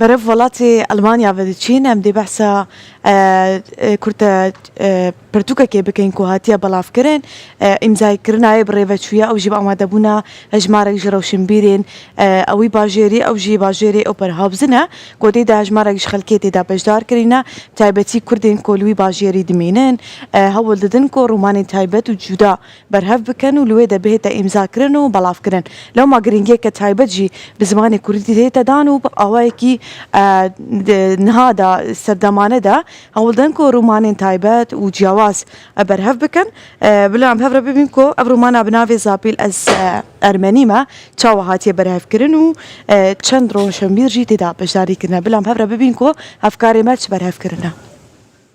Berev welatê Elmanya ve diçîn em dê behsa kurte pirtûkekê bikin ku hatiye belavkirin. Îmzayekirina yê bi rêveçûyê ew jî bi amadebûna hejmarek ji rewşinbîrên wî bajêrî ew jî bajêrê Oberhaupzen e ku tê de hejmarek ji xelkê tê de beşdar kirîne bi taybetî Kurdên ku li wî bajêrî dimînin hewl didin ku romanên taybet û cuda berhev bikin û li wê de bihête îmzakirin û belavkirin. Lewma girîngiyeke taybet jî bi zimanê kurdî tê te dan û bi awayekî niha de serdemane de hewl din ku romanên taybet û ciyawaz berhev bikin. Bila em hev re bibîn ku ev romana bi navê Zapîl ez Ermenî me çawa hatiye berhevkirin û çend rojhembîr jî tê de beşdarî kirine. Bila em hev re bibîn ku hevkarê me çi berhev kirine.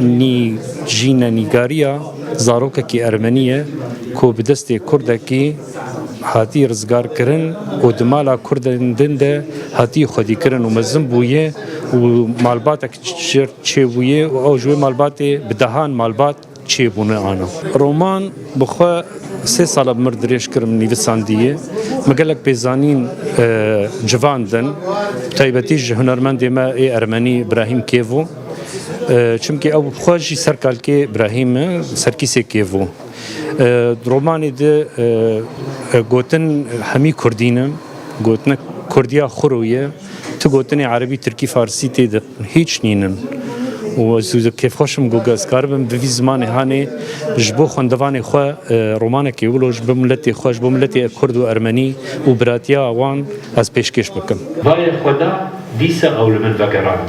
Nî jî ne nîgariya zarokekî ermenî ye ku bi destê kurdekî hatî rizgarkirin û di mala kurdên din de hatî xwedîkirin û mezin bûye û malbatek çêbûye û ew ji wê malbatê bi dehan malbat çêbûne ana. Roman bi xwe sê sala bi mir dirêj kir min nivîsandiye. Me gelek pêzanîn civandin bi taybetî ji hunermendê me ê ermenî Brahîm Kêvo. Çimkî ew xwe jî ser kalkê Brahîm e, serkîsê kêvo. Romanê di gotin hemî kurdî ne, gotina kurdiya xuro ye. Tu gotinê erebî, tirkî, farsî tê de hîç nînin. û ez kêfxweş im ku ez karibim bi vî zimanê hanê ji bo xwendevanê xwe romanekê wilo ji bo miletê xwe, ji bo miletê kurd û ermenî û biratiya wan ez pêşkêş bikim. Bayê xwe da, dîsa ew li min vegerand.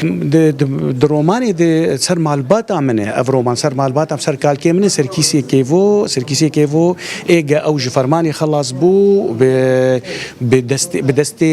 Di romanê de ser malbata min e ev roman ser malbata min ser kalkê min e Serkîsê Kêvo Serkîsê Kêvo ê ge ew ji fermanê xelas bû bi destê bi destê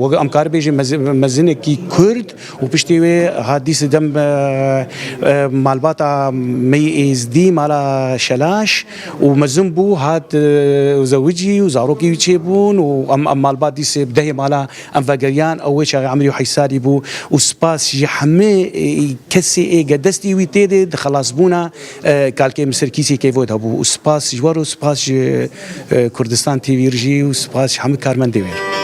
weke em kar bêjin mezinekî Kurd û piştê wê hat dî sidem malbata Meyî Êzdî mala Şelaş û mezin bû hat zewicî û zarokî wî çêbûn û em malbat dî sê bi dehê mala Em vegeriyan ew wê çaxê emirî û heysalî bû û spas ji hemê kesê ê ke destî wî tê dê di xelasbûna kalkê Misir kîsî keyvo de bû û spas ji wer û spas ji Kurdistan TV ir jî û spas ji hemî karmendê wê ir.